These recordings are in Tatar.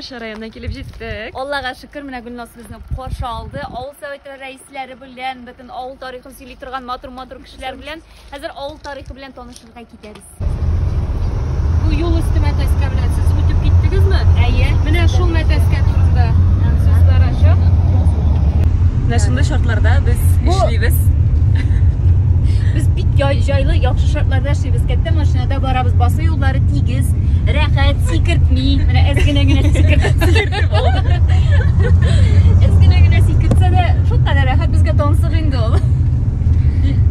Ча районына килеп җиттек. Аллага шөкер, менә Гөлназ безне каршы алды. Авыл советы рәисләре белән, бөтен авыл тарихын сөйли торган матур-матур кешеләр белән. Хәзер авыл тарихы белән танышырга китәбез. Бу юл өсте мәтәскә белән сез үтеп киттегезме? Әйе. Менә шул мәтәскә турында сүз барачак. Менә шундый шартларда без эшлибез. Без бик җайлы, яхшы шартларда эшлибез. Кәттә машинада итеп барабыз. Басу юллары тигез, рәхәт, сикертми. Менә әз генә генә сикертеп алды. Әз генә генә сикертсә дә, шул кадәр рәхәт безгә тансык инде ул.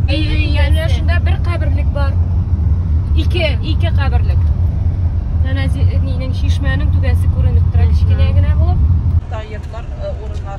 Әнә шунда бер каберлек бар. Ике, ике каберлек. Әнә зи- нинең чишмәнең түбәсе күренеп тора, кечкенә генә булып. Та йортлар, э, урыннар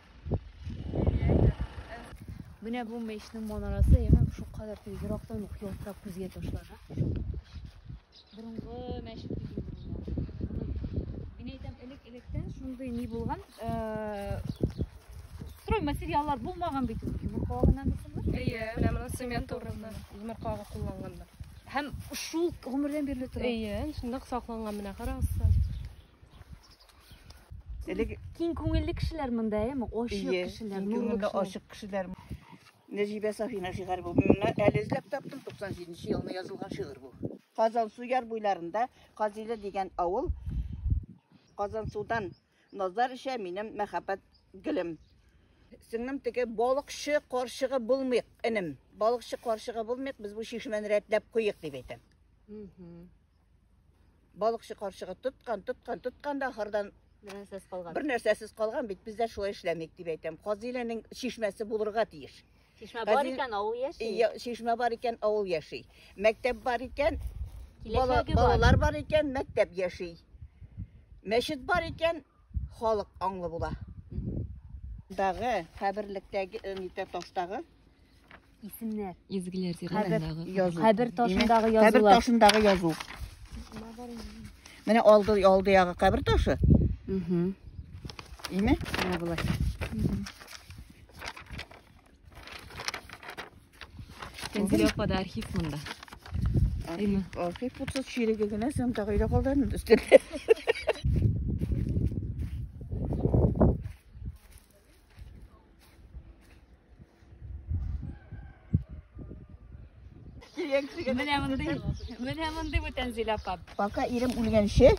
Менә бу мәчетнең манарасы һәм шул кадәр ерактан ук ялтырап күзгә ташлана. Борынгы мәчет дигән. Мин әйтәм, элек-электән шундый ни булган, э, строй материаллар булмаган бит ул. Йомыркага гына бит. Әйе, менә моны цемент урынына йомыркага кулланганнар. Һәм шул гомердән бирле тора. Әйе, шундый сакланган менә карагыз. Элек Киң күңелле кешеләр монда, әйме? Ачык Ие, кешеләр, киң нурлы күңелле, кешеләр. ачык кешеләр. Нәҗибә Сафина шигырь бу. Менә әле эзләп таптым, 97 нче елны язылган шигырь бу. Казансу яр буйларында Казиле дигән авыл. Казансудан назар ишә минем мәхәббәт гөлем. Сеңлем теге балыкчы карчыгы булмыйк, энем. Балыкчы карчыгы булмыйк, без бу чишмәне рәтләп куйык, дип әйтә. Мгм. Балыкчы карчыгы тоткан, тоткан, тоткан да ахырдан бер нәрсәсез калган. Бер нәрсәсез калган бит бездә шулай эшләмик дип әйтәм. Казиләнең чишмәсе булырга тиеш. Чишмә бар икән, авыл яши. Чишмә бар икән, авыл яши. Мәктәп бар икән, балалар бар икән, мәктәп яши. Мәчет бар икән, халык аңлы була. Дагы, каберлектәге, нитә таштагы, Исемнәр. Изгеләр зиратындагы. Язу. Кабер ташындагы язулар. Кабер ташындагы язу. Менә алды, алды ягы кабер ташы. Угу. Име? Менә болай. Тәнзилә апа да архив монда. Архив, архив булса чиреге генә сен тагы өйдә калдырдым өстенә. Менә мондый, менә мондый бүтән зилә апам. Пока ирем үлгәнче,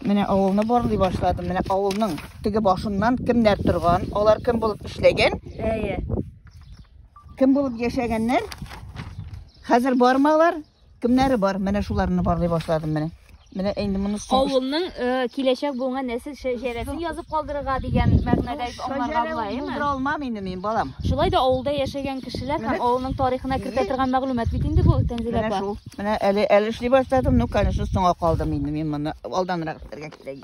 менә авылны барлый башладым. Менә авылның теге башыннан кемнәр торган, алар кем булып эшләгән, Әйе. кем булып яшәгәннәр. Хәзер бармалар, Кемнәре бар? Менә шуларны барлый башладым менә. Менә инде монысы Авылның э, киләчәк буынга нәсел шәҗәрәсен язып калдырырга дигән мәгънәдә аңларга була, әйеме? булдыра алмам инде мин, балам. Шулай да авылда яшәгән кешеләр һәм авылның тарихына кертә торган мәгълүмат бит инде бу Тәнзилә Менә шул. Менә әле әле эшли башладым. Ну, конечно, соңа калдым инде мин моны алданрак эшләргә кирәк.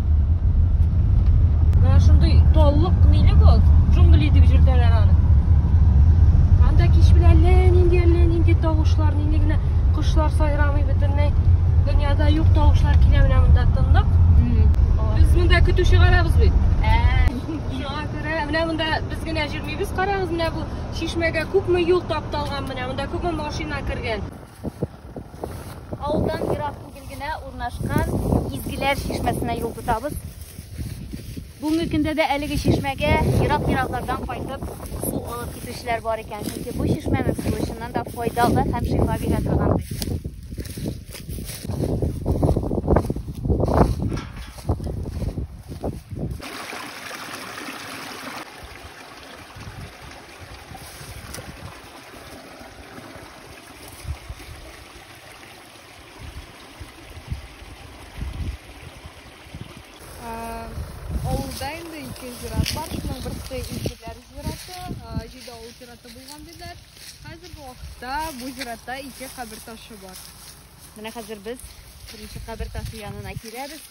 Менә шундый таллык ниле бу? Джунгли дип җөртәләр аны. Анда кич белән әллә нинди әллә нинди тавышлар, нинди генә кошлар сайрамый бөтенләй. Дөньяда юк тавышлар килә менә монда тынлык. Без монда көтү чыгарабыз бит. Ә, шуңа күрә менә монда без генә җөрмибез. Карагыз, менә бу чишмәгә күпме юл тапталган менә. Монда күпме машина кергән. Авылдан ерак Генә урнашкан Изгеләр чишмәсенә юл тотабыз. Бүгенге көндә дә әлеге чишмәгә ерак-ераклардан кайтып су алып китүчеләр бар икән. Чөнки бу чишмәнең суы чыннан да файдалы һәм шифа бирә торган бит. Авылда инде ике зират бар. Шуның берсе Илгиләр зираты, җиде авыл зираты булган диләр. Хәзерге вакытта бу зиратта ике кабер ташы бар. Менә хәзер без беренче кабер ташы янына киләбез.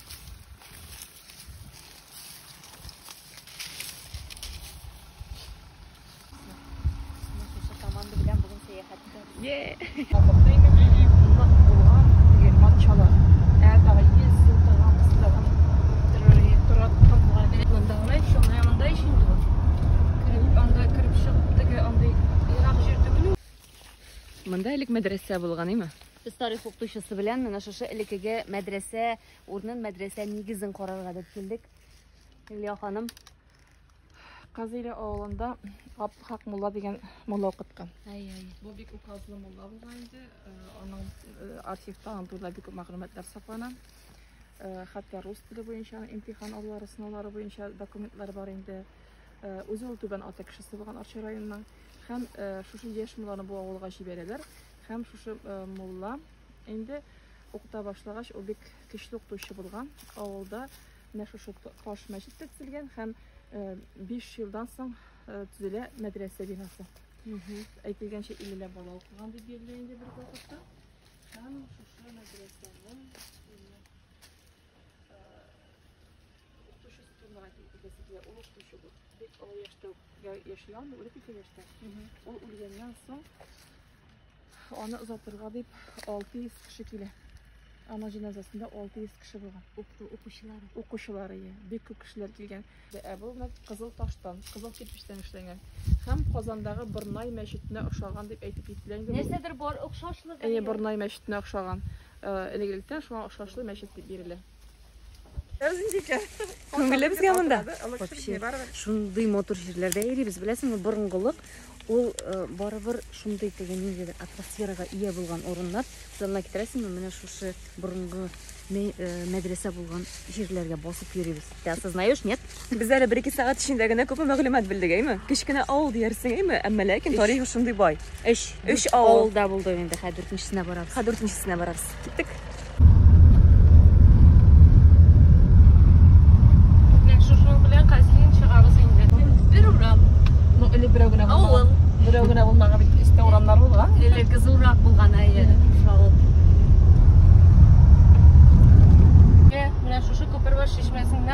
Монда элек мәдрәсә булган, име? Без тарих укытучысы белән менә шушы элекеге мәдрәсә Урнын мәдрәсә нигезен карарга дип килдек. Лилия ханым. Казыйры авылында Абдхак мулла дигән мулла укыткан. Бу бик указлы мулла булган иде. Э, аның э, архивта аның турында бик күп мәгълүматлар саклана. Э, хәтта рус теле буенча имтихан алулары, сынаулары буенча документлар бар инде. Үзе ул түбән ата кешесе булган Арча районының. Һәм шушы яшь мулланы бу авылга җибәрәләр. Һәм шушы мулла инде Укыта башлагач, ул бик көчле укытучы булган. Авылда менә шушы таш мәчет төзелгән һәм 5 елдан соң төзелә мәдрәсә бинасы. Әйтелгәнчә 50 лә бала укыган дип бирелә инде бер вакытта. Һәм шушы мәдрәсәнең Укытучы студентга әйтәсезгә, ул укытучы бик олы яшьтә яши алмый, үлеп китә яшьтә. Ул үлгәннән соң аны озатырга дип 600 кеше килә. Ана җеназасында 600 кеше булган. Укучылары. Укучылары, иә. Бик күп кешеләр килгән. Ә бу кызыл таштан, кызыл кирпечтән эшләнгән. Һәм Казандагы Борнай мәчетенә ошаган дип әйтеп киттеләр инде. Нәрсәдер бар, охшашлы. Әйе, Борнай мәчетенә ошаган. Элегелектә шуңа охшашлы мәчет дип бирелә. Күңелле безгә монда. Вообще, шундый мотор җирләрдә йөрибез, беләсеңме, борынгылык ул э, барыбер шундый теге ниндидер атмосферага ия булган урыннар. Сәлла китерәсеңме, менә шушы борынгы э, мәдрәсә булган җирләргә басып йөрибез. Ты осознаешь, нет? Без әле бер-ике сәгать эчендә генә күпме мәгълүмат белдек, әйме? Кечкенә авыл диярсең, әйме? Әмма ләкин тарихы шундый бай. Өч. Өч авыл. Авылда булдык инде, хәзер дүртенчесенә барабыз. Хәзер дүртенчесенә барабыз. Киттек.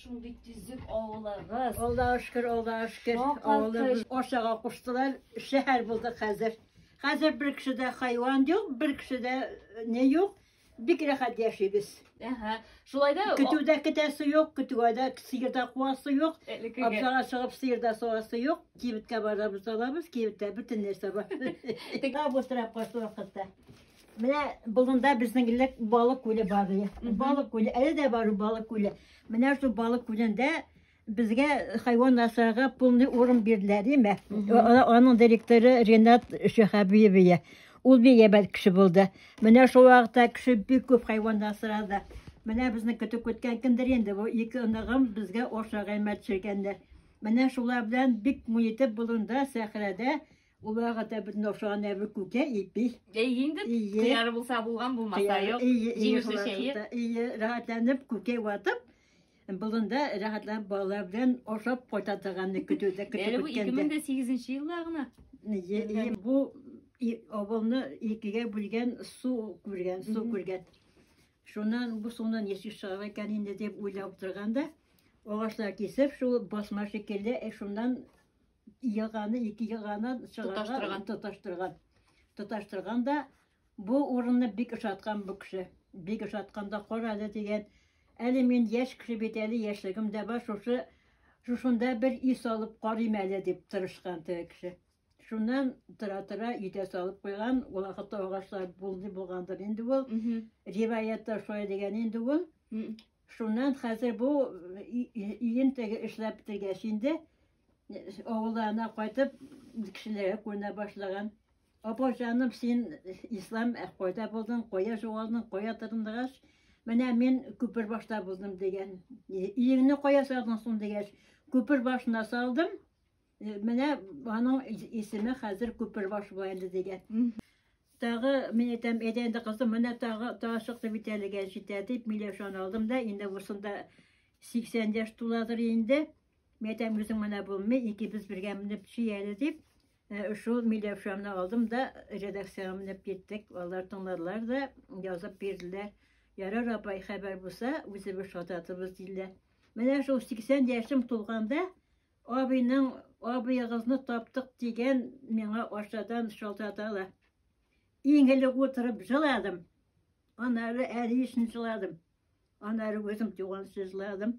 Шул бит төзек авылыгыз. Аллага шөкер, Аллага шөкер. Авылыбыз Арчага куштылар, шәһәр булды хәзер. Хәзер бер кешедә хайван юк, бер кешедә э, не юк. Бик рәхәт яшибез. Әһә. Шулай да Көтүдә китәсе юк, көтүгә дә сыерда куасы юк. Элекеге. Абзага чыгып сыерда суасы юк. Кибеткә барабыз, алабыз, кибеттә бөтен нәрсә бар. Тап утыра кошты вакытта. Менә болында безнең илек балык күле бар. Балык күле, әле дә бар балык күле. Менә шул балык күлендә безгә хайван асарга полный урын бирделәр, әйме? Аның директоры Ренат Шәһәбиевия. Ул бик әйбәт кеше булды. Менә шул вакытта кеше бик күп хайван асрады. Менә безне көтеп көткән кемдер инде бу ике оныгым безгә ашарга әйбәт төшергәннәр. Менә шулар белән бик мул итеп болында сәхрәдә Улар хәтта бит ношан әбе күкә ипи. Әй инде кыяры булса булган булмаса юк. Җиңүсе шәйе. Ие, рәхәтләнеп күкә ватып, булында рәхәтләнеп балалар белән ашап кайта торганны көтүдә көтеп Әле бу 2008 елда гына. Ие, бу авылны икегә бүлгән су күргән, су күргән. Шуннан бу суны ничек чыгар икән инде дип уйлап торганда, агачлар кисеп, шул басма шикелле, шуннан яганы ике яганы тоташтырган тоташтырган тоташтырган да бу урынны бик ошаткан бу кеше бик ошатканда кор әле дигән әле мин яшь кеше бит әле яшьлегем дә бар шушы шушында бер өй салып карыйм әле дип тырышкан теге кеше шуннан тора тора өйдә салып куйган ул вакытта агачлар булды булгандыр инде ул риваятта шулай дигән инде ул шуннан хәзер бу өен теге эшләп бетергәч инде Авылларына кайтып, кешеләргә күренә башлаган. Апа җаным, син ислам ә кайда булдың, кая жугалдың, кая тырындыгач, менә мин күпер башта булдым дигән. Иеңне кая салдың соң дигәч, күпер башына салдым. Менә аның исеме хәзер күпер баш була инде дигән. Тагы мин әйтәм, әйдә инде кызым, менә тагы тагы чыкты бит әлегә җитә дип, миләшаны алдым да, инде бусында 80 яшь туладыр инде. Мин әйтәм, үзең менә булмый, икебез бергә менеп чөяле дип, э, шул Миләүшәмне алдым да редакциягә менеп киттек. Алар тыңладылар да язып бирделәр. Ярар апай, хәбәр булса, үзебез шататыбыз диделәр. Менә шул 80 яшем тулганда абыйның абыегызны таптык дигән миңа ашадан шалтаталар. Иң элек утырып җыладым. Анары әри өчен җыладым. Анары үзем туган сүзладым.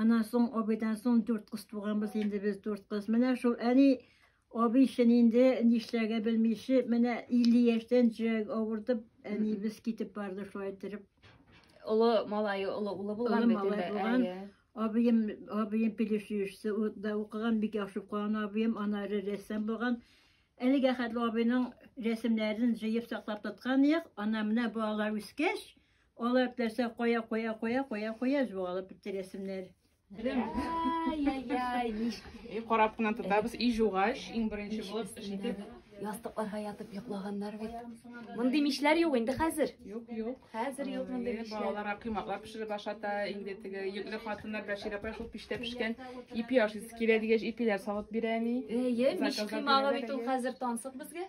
Аннан соң абыйдан соң дүрт кыз туганбыз инде без дүрт кыз. Менә шул әни абый өчен инде нишләргә белмичә, менә 50 яшьтән җөрәк авыртып, әни без китеп барды шулай иттереп. Олы малае, олы улы булган бит инде. Булган. Абыем, абыем пилешүчесе да укыган, бик яхшы куан абыем, анары рәссам булган. Әлегә хәтле абыйның рәсемнәрен җыеп саклап тоткан ик, ана менә балалар үскәч, Алар теләсә кая куя куя куя куя җуалып бетте рәсемнәр. Ай-яй-яй, ниш. И карап кына тотабыз, и жугач, иң беренче булып ишетеп. Ястыкларга ятып йоклаганнар бит. Мондый мишләр юк инде хәзер. Юк, юк. Хәзер юк мондый мишләр. Балалар акыймаклар пешереп ашата, инде теге йөкле хатыннар Бәшир апа шул пиштә пешкән ипи ашыйсы килә дигәч, ипиләр салып бирә ни. Әйе, мич кыймагы бит ул хәзер тансык безгә.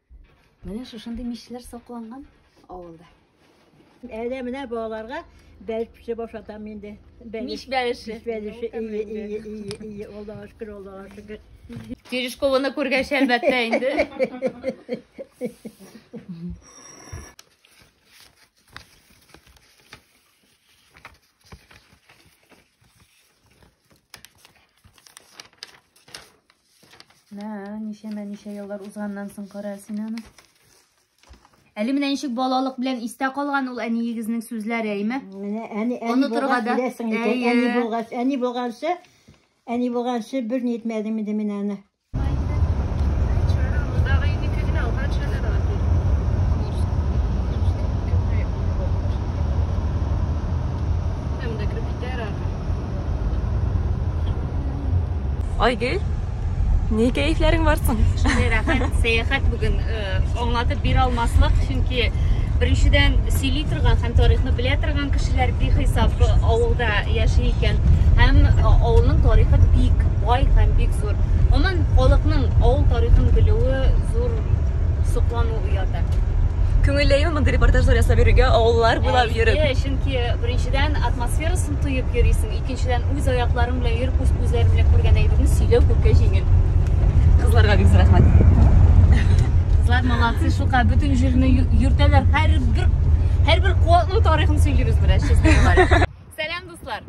Менә шушындый мичләр сакланган авылда. Әле менә балаларга бәлеш пешереп ашатам инде. Мич бәлеше. Мич бәлеше. Ие, ие, ие, ие. Аллага шөкер, Аллага шөкер. Терешкованы күргәч, әлбәттә инде. Мә, ничәмә ничә еллар узганнан соң кара син аны. Әле менә ничек балалык белән истә калган ул әниегезнең сүзләре, әйме? Менә әни әни булгач беләсең икән. Әни булгач, әни булганчы, әни булганчы бер ни әйтмәдем инде мин аны. Айгөл, ни кәефләрең бар соң? Шундый рәхәт сәяхәт бүген э, аңлатып бир алмаслык, чөнки беренчедән сөйли торган һәм тарихны белә торган кешеләр бихисап авылда яши икән һәм э, авылның тарихы бик бай һәм бик зур. Гомумән, халыкның авыл тарихын белүе зур соклану уята. Күңелләйме мондый репортажлар ясап йөрергә, авыллар буйлап йөреп? Әйе, чөнки беренчедән Атмосферасын тоеп йөрисең. Икенчедән, үз аякларың белән йөреп, үз күзләрең белән күргән әйберне сөйләү күпкә җиңел. Кызларга бик рәхмәт. Кызлар молодцы, шука бөтен җирне йөртәләр. Һәрбер һәрбер куатның тарихын сөйлибез бераз чизгәләр. Сәлам дуслар.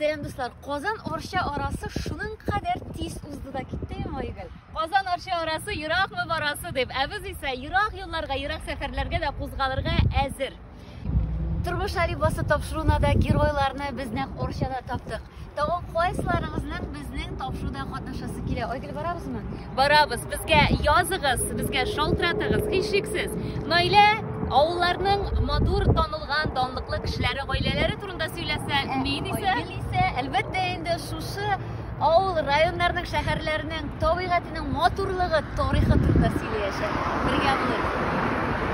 Сәлам дуслар. Казан Арча арасы шуның кадәр тиз узды да китте, Айгөл. Казан Арча арасы еракмы барасы дип. Ә без исә ерак юлларга, ерак сәфәрләргә дә кузгалырга әзер. Тормыш арибасы тапшыруына да геройларны без нәкъ Орчада таптык. Тагын кайсыларыгызның безнең тапшыруда катнашасы килә? Айгөл, барабызмы? Барабыз. Безгә языгыз, безгә шалтыратыгыз. Һичшиксез. Наилә авылларның матур танылган данлыклы кешеләре, гаиләләре турында сөйләсә, ә, мин исә Айгөл исә, әлбәттә инде шушы авыл, районнарның, шәһәрләрнең табигатенең матурлыгы, тарихы турында сөйләячәк. Бергә булыйк.